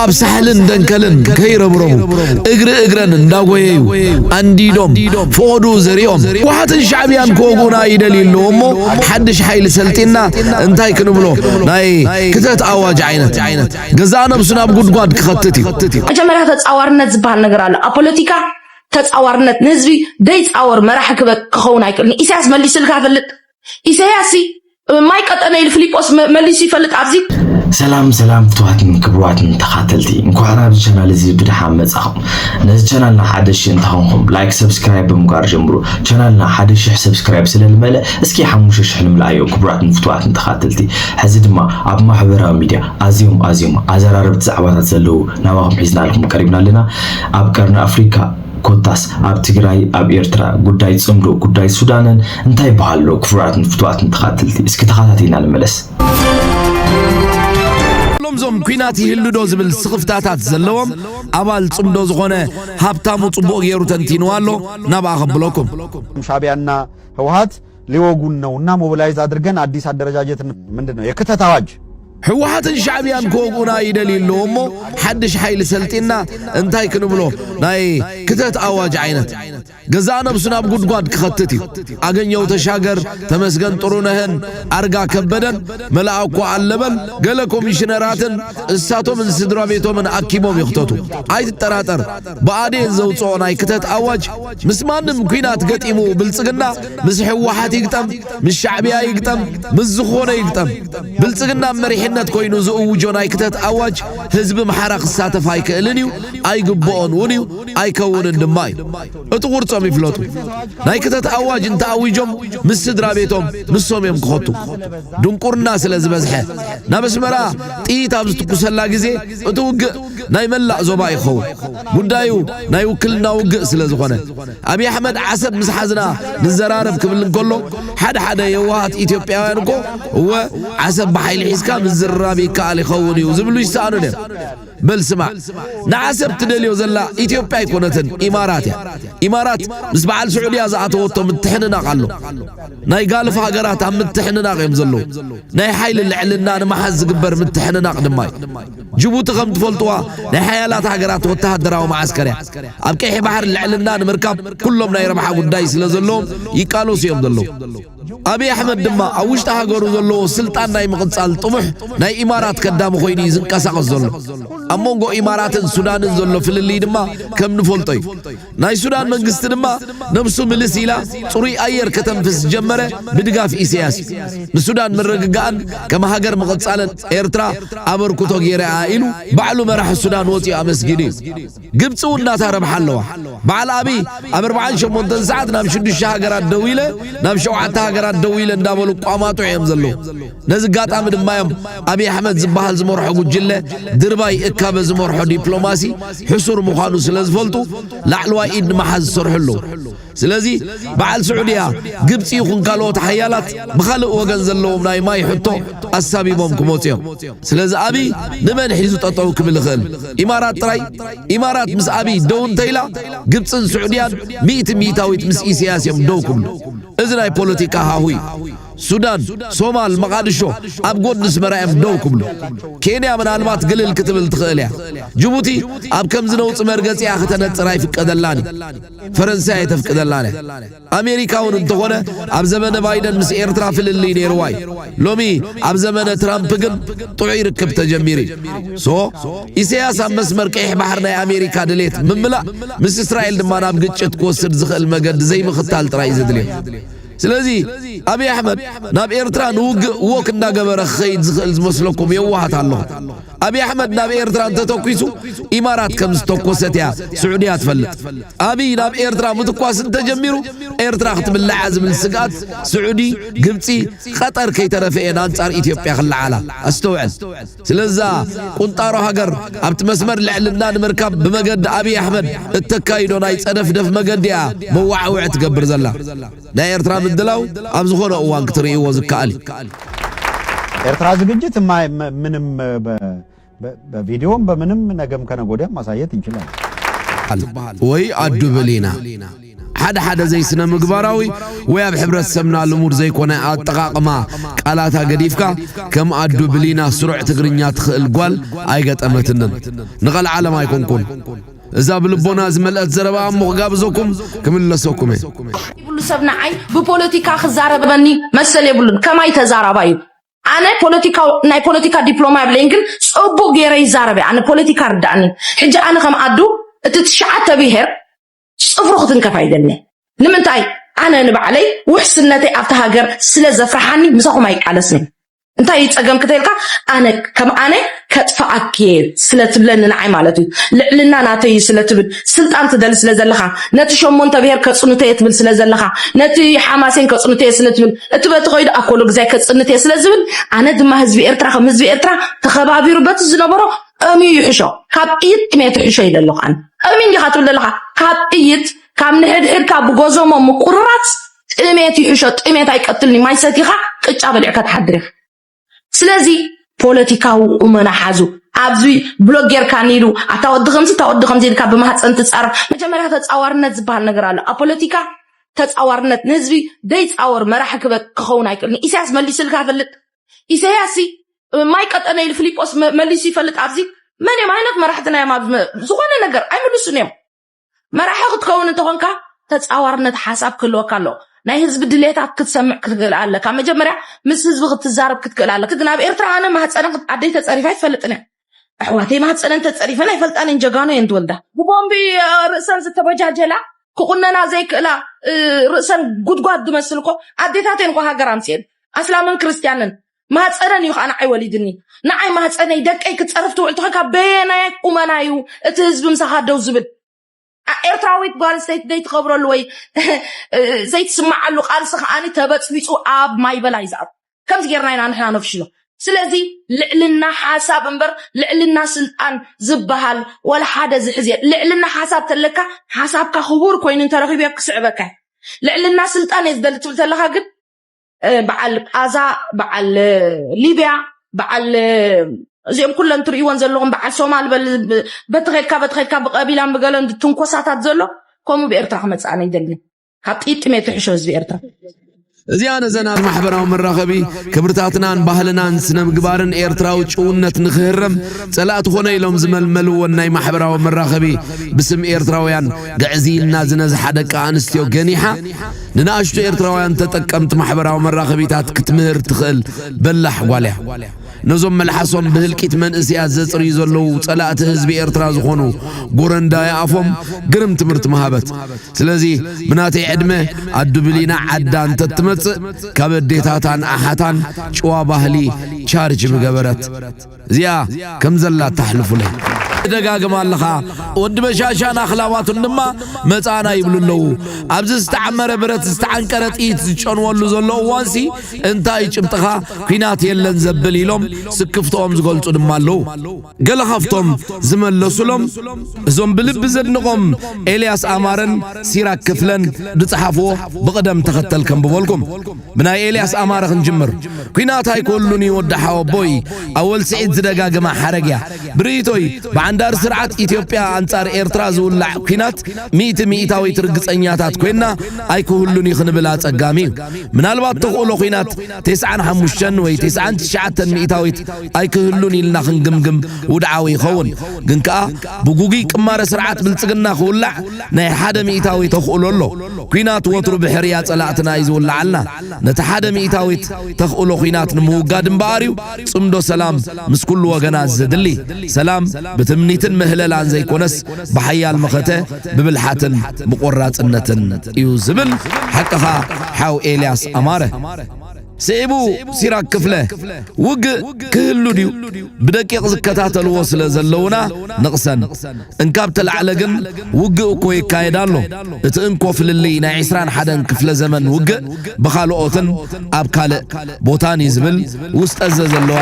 ኣብ ሳሕልን ደንከልን ከይረብረቡ እግሪ እግረን እንዳጎየዩ ኣንዲዶም ፍቐዱ ዘሪኦም ውሓትን ሻዕብያን ክወጉና ይደል ኣለዎ እሞ ሓድሽ ሓይሊ ሰልጢና እንታይ ክንብሎ ናይ ክተት ኣዋጅ ዓይነት ገዛእ ነብሱ ናብ ጉድጓድ ክኸትት እዩ መጀመርያ ተፃዋርነት ዝበሃል ነገር ኣሎ ኣብ ፖለቲካ ተፃዋርነት ንህዝቢ ደይፃወር መራሒ ክኸውን ኣይክእልን ኢሳያስ መሊስልካ ፈልጥ ኢሰያስ ማይ ቀጠነ ኢሉ ፍሊጶስ መሊሱ ይፈልጥ ኣብዚ ሰላም ሰላም ፍትዋትን ክብርዋትን ተኻተልቲ እንኳዕ ናብዚ ቻናል እዚ ብድሓን መጻኹም ነዚ ቻናልና ሓደ ሽሕ እንተኾንኩም ላይክ ሰብስክራይብ ብምግባር ጀምሩ ቻናልና ሓደ ሽሕ ሰብስክራይብ ስለልመለ እስኪ ሓሙሽተ ሽሕ ንምልኣዮ ክብራትን ፍትዋትን ተኻተልቲ ሕዚ ድማ ኣብ ማሕበራዊ ሚድያ ኣዝዮም ኣዝዮም ኣዘራረብቲ ዛዕባታት ዘለዉ ናባኹም ሒዝናልኩም ቀሪብና ኣለና ኣብ ቀርኒ ኣፍሪካ ኮታስ ኣብ ትግራይ ኣብ ኤርትራ ጉዳይ ጽምዶ ጉዳይ ሱዳንን እንታይ ይበሃል ኣሎ ክቡራትን ፍቱዋትን ተኻትልቲ እስኪ ተኻታቲልና ንመለስ። ዞም ኩናት ይህሉ ዶ ዝብል ስኽፍታታት ዘለዎም ኣባል ጽምዶ ዝኾነ ሃብታሙ ጽቡቕ ገይሩ ተንቲንዋ ኣሎ ናብኣ ከብለኩም ሻዕቢያና ህወሓት ሊወጉን ነው እና ሞቢላይዝ አድርገን አዲስ አደረጃጀት ምንድን ነው የክተት አዋጅ ህወሓትን ሻዕብያን ክወግኡና ይደልዩ ኣለዎ እሞ ሓድሽ ሓይሊ ሰልጢና እንታይ ክንብሎ ናይ ክተት ኣዋጅ ዓይነት ገዛ ነብሱ ናብ ጉድጓድ ክኸትት እዩ ኣገኘው ተሻገር ተመስገን ጥሩነህን ኣርጋ ከበደን መላእኮ ኣለበል ገለ ኮሚሽነራትን እሳቶምን ስድራ ቤቶምን ኣኪቦም ይኽተቱ ኣይትጠራጠር ብኣዴን ዘውፅኦ ናይ ክተት ኣዋጅ ምስ ማንም ኲናት ገጢሙ ብልጽግና ምስ ህወሓት ይግጠም ምስ ሻዕብያ ይግጠም ምስ ዝኾነ ይግጠም ብልጽግና መሪሕነት ኮይኑ ዝእውጆ ናይ ክተት ኣዋጅ ህዝቢ ኣምሓራ ክሳተፍ ኣይክእልን እዩ ኣይግብኦን እውን እዩ ኣይከውንን ድማ እዩ እቲ ቁርጾም ይፍለጡ ናይ ክተት ኣዋጅ እንተኣዊጆም ምስ ስድራ ቤቶም ንሶም እዮም ክኸቱ ድንቁርና ስለ ዝበዝሐ ናብ ኣስመራ ጥይት ኣብ ዝትኩሰላ ግዜ እቲ ውግእ ናይ መላእ ዞባ እዩ ክኸውን። ጉዳዩ ናይ ውክልና ውግእ ስለ ዝኾነ። ኣብይ ኣሕመድ ዓሰብ ምስ ሓዝና ንዘራረብ ክብል እንከሎ ሓደ ሓደ የዋሃት ኢትዮጵያውያን እኮ እወ ዓሰብ ብሓይሊ ሒዝካ ምዝርራብ ይከኣል ይኸውን እዩ ዝብሉ ይሰኣኑ ነይሩ። በል ስማዕ ንዓሰብ ትደልዮ ዘላ ኢትዮጵያ ኣይኮነትን ኢማራት እያ። ኢማራት ምስ በዓል ስዑድያ ዝኣተወቶ ምትሕንናቕ ኣሎ። ናይ ጋልፍ ሃገራት ኣብ ምትሕንናቕ እዮም ዘለዉ። ናይ ሓይሊ ልዕልና ንምሓዝ ዝግበር ምትሕንናቕ ድማ እዩ። ጅቡቲ ከም ትፈልጥዋ ናይ ሓያላት ሃገራት ወተሃደራዊ መዓስከር እያ። ኣብ ቀይሕ ባሕሪ ልዕልና ንምርካብ ኩሎም ናይ ረብሓ ጉዳይ ስለ ዘለዎም ይቃለሱ እዮም ዘለዉ። ኣብይ ኣሕመድ ድማ ኣብ ውሽጢ ሃገሩ ዘለዎ ስልጣን ናይ ምቕጻል ጥሙሕ ናይ ኢማራት ከዳሚ ኮይኑ እዩ ዝንቀሳቐስ ዘሎ። ኣብ መንጎ ኢማራትን ሱዳንን ዘሎ ፍልልይ ድማ ከም ንፈልጦ እዩ። ናይ ሱዳን መንግስቲ ድማ ነብሱ ምልስ ኢላ ጽሩይ ኣየር ከተንፍስ ዝጀመረ ብድጋፍ ኢሰያስ እዩ። ንሱዳን ምርግጋእን ከም ሃገር ምቕጻልን ኤርትራ ኣበርኩቶ ጌራ'ያ ኢሉ ባዕሉ መራሒ ሱዳን ወጺኡ ኣመስጊኑ እዩ። ግብጺ ውን ናታ ረብሓ ኣለዋ። በዓል ኣቢይ ኣብ ኣርብዓን ሸሞንተን ሰዓት ናብ ሽዱሽተ ሃገራት ደዊለ ናብ ሸውዓተ ሃገራት ደዊለ እንዳበሉ ቋማጦ እዮም ዘለዉ። ነዚ ኣጋጣሚ ድማ እዮም ኣብዪ ኣሕመድ ዝበሃል ዝመርሖ ጉጅለ ድርባይ እካበ ዝመርሖ ዲፕሎማሲ ሕሱር ምዃኑ ስለ ዝፈልጡ ላዕለዋይ ኢድ ንምሓዝ ዝሰርሑ ኣለዉ ስለዚ በዓል ስዑድያ ግብፂ ይኹን ካልኦት ሓያላት ብኻልእ ወገን ዘለዎም ናይ ማይ ሕቶ ኣሳቢቦም ክመፁ እዮም ስለዚ ኣብዪ ንመን ሒዙ ጠጠው ክብል ይኽእል ኢማራት ጥራይ ኢማራት ምስ ኣብዪ ደው እንተኢላ ግብፅን ስዑድያን ሚእቲ ሚእታዊት ምስ ኢሳያስ እዮም ደው ክብሉ እዚ ናይ ፖለቲካ ሃሁ እዩ ሱዳን፣ ሶማል፣ መቓድሾ ኣብ ጎድኒ ኣስመራ እዮም ደው ክብሉ። ኬንያ ምናልባት ግልል ክትብል ትኽእል እያ። ጅቡቲ ኣብ ከምዚ ነውጺ መርገጺኣ ክተነጽር ኣይፍቀደላን እዩ። ፈረንሳይ ኣየተፍቅደላን እያ። ኣሜሪካ እውን እንተኾነ ኣብ ዘመነ ባይደን ምስ ኤርትራ ፍልልይ ነይርዋ እዩ። ሎሚ ኣብ ዘመነ ትራምፕ ግን ጥዑይ ርክብ ተጀሚሩ እዩ። ሶ ኢሰያስ ኣብ መስመር ቀይሕ ባሕሪ ናይ ኣሜሪካ ድሌት ምምላእ ምስ እስራኤል ድማ ናብ ግጭት ክወስድ ዝኽእል መገዲ ዘይምኽታል ጥራይ እዩ ዘድልዮ። ስለዚ ኣብይ ኣሕመድ ናብ ኤርትራ ንውግእ ዎክ እንዳገበረ ክኸይድ ዝኽእል ዝመስለኩም የዋሃት ኣለኹም። ኣብይ ኣሕመድ ናብ ኤርትራ እንተተኲሱ ኢማራት ከም ዝተኮሰት እያ ስዑድያ ትፈልጥ። ኣብይ ናብ ኤርትራ ምትኳስ እንተጀሚሩ ኤርትራ ክትብላዕ እያ ዝብል ስግኣት ስዑዲ፣ ግብጺ፣ ቐጠር ከይተረፈ እየን ኣንጻር ኢትዮጵያ ክለዓላ። ኣስተውዕል። ስለዛ ቁንጣሮ ሃገር ኣብቲ መስመር ልዕልና ንምርካብ ብመገዲ ኣብይ ኣሕመድ እተካይዶ ናይ ጸደፍደፍ መገዲ እያ መወዓውዒ ትገብር ዘላ። ናይ ኤርትራ ምድላው ኣብ ዝኾነ እዋን ክትርእይዎ ዝከኣል እዩ። ኤርትራ ዝግጅት ምንም በቪዲዮም በምንም ነገም ከነጎዲያም ማሳየት እንችላለን። ወይ አዱ ብሊና ሓደ ሓደ ዘይስነ ምግባራዊ ወይ ኣብ ሕብረተሰብና ልሙድ ዘይኮነ ኣጠቓቕማ ቃላታ ገዲፍካ ከም ኣዱ ብሊና ስሩዕ ትግርኛ ትኽእል ጓል ኣይገጠመትንን። ንቐልዓለም ኣይኮንኩን እዛ ብልቦና ዝመልአት ዘረባ እሞ ክጋብዘኩም ክምለሰኩም እየ። ይብሉ ሰብ ንዓይ ብፖለቲካ ክዛረበኒ መሰል የብሉን ከማይ ተዛራባይ እዩ ኣነ ፖለቲካ ናይ ፖለቲካ ዲፕሎማ የብለይን ግን ጽቡቅ ገይረ ይዛረበ ኣነ ፖለቲካ ርዳእኒ ሕጂ ኣነ ከም ኣዱ እቲ ትሽዓተ ብሄር ፅፍሩ ክትንከፍ ኣይደለ ንምንታይ ኣነ ንባዕለይ ውሕስነተይ ኣብቲ ሃገር ስለ ዘፍርሓኒ ምሳኹም ኣይቃለስን እንታይ እዩ ፀገም ክተልካ ኣነ ከም ኣነ ከጥፍኣኪ እየ ስለትብለኒ ንዓይ ማለት እዩ ልዕልና ናተይ እዩ ስለትብል ስልጣን ትደሊ ስለ ዘለካ ነቲ ሸሞንተ ብሄር ከፅንተ እየ ትብል ስለ ዘለካ ነቲ ሓማሴን ከፅንተ እየ ስለትብል እቲ በቲ ከይዱ ኣኮሎ ግዛይ ከፅንት እየ ስለዝብል ኣነ ድማ ህዝቢ ኤርትራ ከም ህዝቢ ኤርትራ ተኸባቢሩ በቲ ዝነበሮ ቐምዩ ይሕሾ ካብ ጥይት ቅሜ ትሕሾ ኢለ ኣለኹ ኣነ ቐምዩ እንዲኻ ትብል ዘለኻ ካብ ጥይት ካብ ንሕድሕድካ ብጎዞሞ ምቁርራፅ ጥሜት ይሕሾ ጥሜት ኣይቀትልኒ ማይ ሰቲኻ ቅጫ በሊዕካ ትሓድር ኢኻ ስለዚ ፖለቲካዊ ቁመና ሓዙ ኣብዚ ብሎግ ጌርካ ኒሉ ኣታ ወዲ ከምዚ እታ ወዲ ከምዚ ኢልካ ብማህፀን ትፃረፍ መጀመርያ ተፃዋርነት ዝበሃል ነገር ኣሎ ኣብ ፖለቲካ ተፃዋርነት ንህዝቢ ደይፃወር መራሒ ክኸውን ኣይክእልን ኢሳያስ መሊስልካ ፈልጥ ኢሰያስ ማይ ቀጠነ ኢሉ ፊሊጶስ መሊሱ ይፈልጥ ኣብዚ መን እዮም ዓይነት መራሕትና እዮም ኣብ ዝኾነ ነገር ኣይምልሱን እዮም መራሒ ክትከውን እንተኾንካ ተፃዋርነት ሓሳብ ክህልወካ ኣሎ ናይ ህዝቢ ድሌታት ክትሰምዕ ክትክእል ኣለካ መጀመርያ ምስ ህዝቢ ክትዛረብ ክትክእል ኣለክ ግን ኣብ ኤርትራ ኣነ ማህፀነ ኣደይ ተፀሪፋ ይፈልጥን እያ ኣሕዋተይ ማህፀነን ተፀሪፈን ኣይፈልጣን እየን ጀጋኑ እየን ትወልዳ ብቦምቢ ርእሰን ዝተበጃጀላ ክቁነና ዘይክእላ ርእሰን ጉድጓድ ዝመስል እኮ ኣዴታት እየን እኮ ሃገር ኣምፅኤን ኣስላምን ክርስትያንን ማህፀነን እዩ ከዓ ንዓይ ወሊድኒ ንዓይ ማህፀነይ ደቀይ ክትፀርፍ ትውዕል ትኾን ካብ በየናይ ቁመና እዩ እቲ ህዝቢ ምሳኻ ደው ዝብል ኤርትራዊት ጓል ስተይቲ ዘይትኸብረሉ ወይ ዘይትስምዓሉ ቃልሲ ከዓኒ ተበፅቢፁ ኣብ ማይበላ እዩ ዝኣቱ ከምዚ ጌርና ኢና ንሕና ነፍሽሎ ስለዚ ልዕልና ሓሳብ እምበር ልዕልና ስልጣን ዝበሃል ወላ ሓደ ዝሕዝ እየ ልዕልና ሓሳብ ተለካ ሓሳብካ ክቡር ኮይኑ እንተረኺበ ክስዕበካ ልዕልና ስልጣን እየ ዝደሊ ትብል ተለካ ግን በዓል ቃዛ በዓል ሊብያ በዓል እዚኦም ኩለን ትርእይዎን ዘለኹም በዓል ሶማል በቲ ኸድካ በቲ ኸድካ ብቀቢላን ብገለን ትንኮሳታት ዘሎ ከምኡ ብኤርትራ ክመፅእ ኣነ ይደሊ ካብ ጥይት ጥሜት ትሕሾ ህዝቢ ኤርትራ እዚኣ ነዘናን ማሕበራዊ መራኸቢ ክብርታትናን ባህልናን ስነ ምግባርን ኤርትራዊ ጭውነት ንክህረም ጸላእቲ ኾነ ኢሎም ዝመልመልዎን ናይ ማሕበራዊ መራኸቢ ብስም ኤርትራውያን ግዕዝይና ዝነዝሓ ደቂ ኣንስትዮ ገኒሓ ንናኣሽቱ ኤርትራውያን ተጠቀምቲ ማሕበራዊ መራኸቢታት ክትምህር ትኽእል በላሕ ጓል እያ። ነዞም መልሓሶም ብህልቂት መንእስያት ዘጽርዩ ዘለዉ ጸላእቲ ህዝቢ ኤርትራ ዝኾኑ ጎረንዳ ይኣፎም ግርም ትምህርቲ ምሃበት። ስለዚ ብናተይ ዕድመ ኣዱ ብሊና ዓዳ እንተትመጽእ ካብ ኣዴታታን ኣሓታን ጭዋ ባህሊ ቻርጅ ምገበረት። እዚኣ ከም ዘላ ተሕልፉለይ ትደጋግማ ኣለኻ ወዲ በሻሻን ኣኽላባቱን ድማ መጻና ይብሉ ኣለዉ ኣብዚ ዝተዓመረ ብረት ዝተዓንቀረ ጥይት ዝጨንወሉ ዘሎ እዋንሲ እንታይ ጭብጥኻ ኲናት የለን ዘብል ኢሎም ስክፍትኦም ዝገልጹ ድማ ኣለዉ ገለ ካብቶም ዝመለሱሎም እዞም ብልቢ ዘድንቖም ኤልያስ ኣማረን ሲራክ ክፍለን ዝጸሓፍዎ ብቕደም ተኸተል ከንብበልኩም ብናይ ኤልያስ ኣማረ ክንጅምር ኲናት ኣይኮሉን እዩ ወዲ ሓወቦይ ኣወል ስዒድ ዝደጋግማ ሓረግ እያ ብርእይቶይ ብዓንዳር ስርዓት ኢትዮጵያ ኣንጻር ኤርትራ ዝውላዕ ኲናት ሚእቲ ሚእታዊት ርግጸኛታት ኮይና ኣይክህሉን እዩ ክንብል ኣጸጋሚ እዩ ምናልባት ተኽእሎ ኲናት ቴስዓን ሓሙሽተን ወይ ቴስዓን ትሽዓተን ሚእታዊት ኣይክህሉን ኢልና ክንግምግም ውድዓዊ ይኸውን ግን ከኣ ብጉጉይ ቅማረ ስርዓት ብልጽግና ክውላዕ ናይ ሓደ ሚኢታዊ ተኽእሎ ኣሎ። ኲናት ወትሩ ብሕርያ ጸላእትና እዩ ዝውልዓልና። ነቲ ሓደ ሚኢታዊት ተኽእሎ ኲናት ንምውጋድ እምበኣር እዩ ጽምዶ ሰላም ምስ ኩሉ ወገናት ዘድሊ። ሰላም ብትምኒትን ምህለላን ዘይኮነስ ብሓያል መኸተ፣ ብብልሓትን ብቆራጽነትን እዩ ዝብል ሓቅኻ ሓው ኤልያስ ኣማረ። ስዒቡ ሲራክ ክፍለ፣ ውግእ ክህሉ ድዩ? ብደቂቕ ዝከታተልዎ ስለ ዘለዉና ንቕሰን። እንካብ ተላዕለ ግን ውግእ እኮ ይካየድ ኣሎ። እቲ እንኮ ፍልልይ ናይ ዕስራን ሓደን ክፍለ ዘመን ውግእ ብኻልኦትን ኣብ ካልእ ቦታን እዩ ዝብል ውስጠዘ ዘለዋ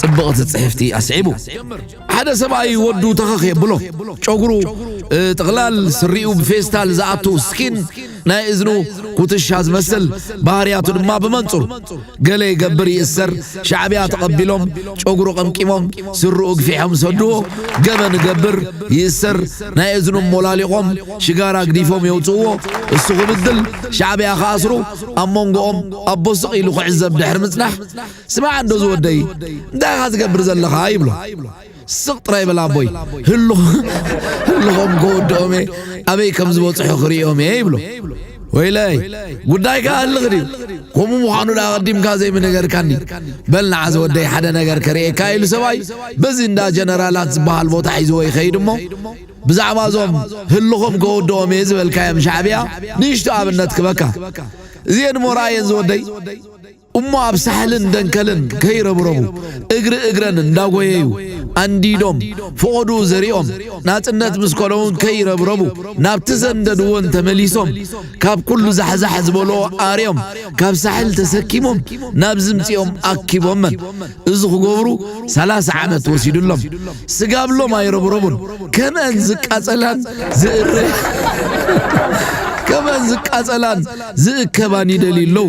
ጽብቕቲ ጽሕፍቲ ኣስዒቡ። ሓደ ሰብኣይ ወዱ ተኸኽ የብሎ፣ ጨጉሩ ጥቕላል፣ ስሪኡ ብፌስታል ዝኣቱ ስኪን፣ ናይ እዝኑ ኩትሻ ዝመስል ባህርያቱ ድማ ብመንጹር ገለ ይገብር ይእሰር ሻዕብያ ተቐቢሎም ጨጉሩ ቀምቂሞም ስርኡ ግፊሖም ዝሰድዎ ገበን እገብር ይእሰር ናይ እዝኑ ሞላሊቖም ሽጋራ ግዲፎም የውጽእዎ እሱ ክብድል ሻዕብያ ክኣስሩ ኣብ መንጎኦም ኣቦ ስቕ ኢሉ ክዕዘብ ድሕሪ ምጽናሕ ስማዕ እንዶ ዝወደይ እንታይ ኢኻ ትገብር ዘለኻ ይብሎ ስቕ ጥራይ በል ኣቦይ ህልኾም ከወድኦም እየ ኣበይ ከም ዝበፅሑ ክርእዮም እየ ይብሎ ወይለይ ጉዳይካ ህልኽ ድዩ ከምኡ ምዃኑ ዳ ኣቐዲምካ ዘይምነገርካኒ በል ንዓ ዝወደይ ሓደ ነገር ከርእየካ ኢሉ ሰብኣይ በዚ እንዳ ጀነራላት ዝበሃል ቦታ ሒዝዎ ይኸይድ እሞ ብዛዕባ እዞም ህልኾም ከወድኦም እየ ዝበልካዮም ሻዕብያ ንእሽቶ ኣብነት ክበካ እዚኤን እሞ ረኣየን ዝወደይ እሞ ኣብ ሳሕልን ደንከልን ከይረብረቡ እግሪ እግረን እንዳጎየዩ ኣንዲዶም ፍቖድኡ ዘሪኦም ናጽነት ምስ ኮነውን ከይረብረቡ ናብቲ ዘንደድዎን ተመሊሶም ካብ ኩሉ ዛሕዛሕ ዝበልኦ ኣርዮም ካብ ሳሕል ተሰኪሞም ናብ ዝምጽኦም ኣኪቦመን እዚ ክገብሩ ሰላሳ ዓመት ወሲዱሎም ስጋብሎም ኣይረብረቡን ከምአን ዝቃጸላን ዝእር ከምአን ዝቃጸላን ዝእከባን ይደልዩ ኣለዉ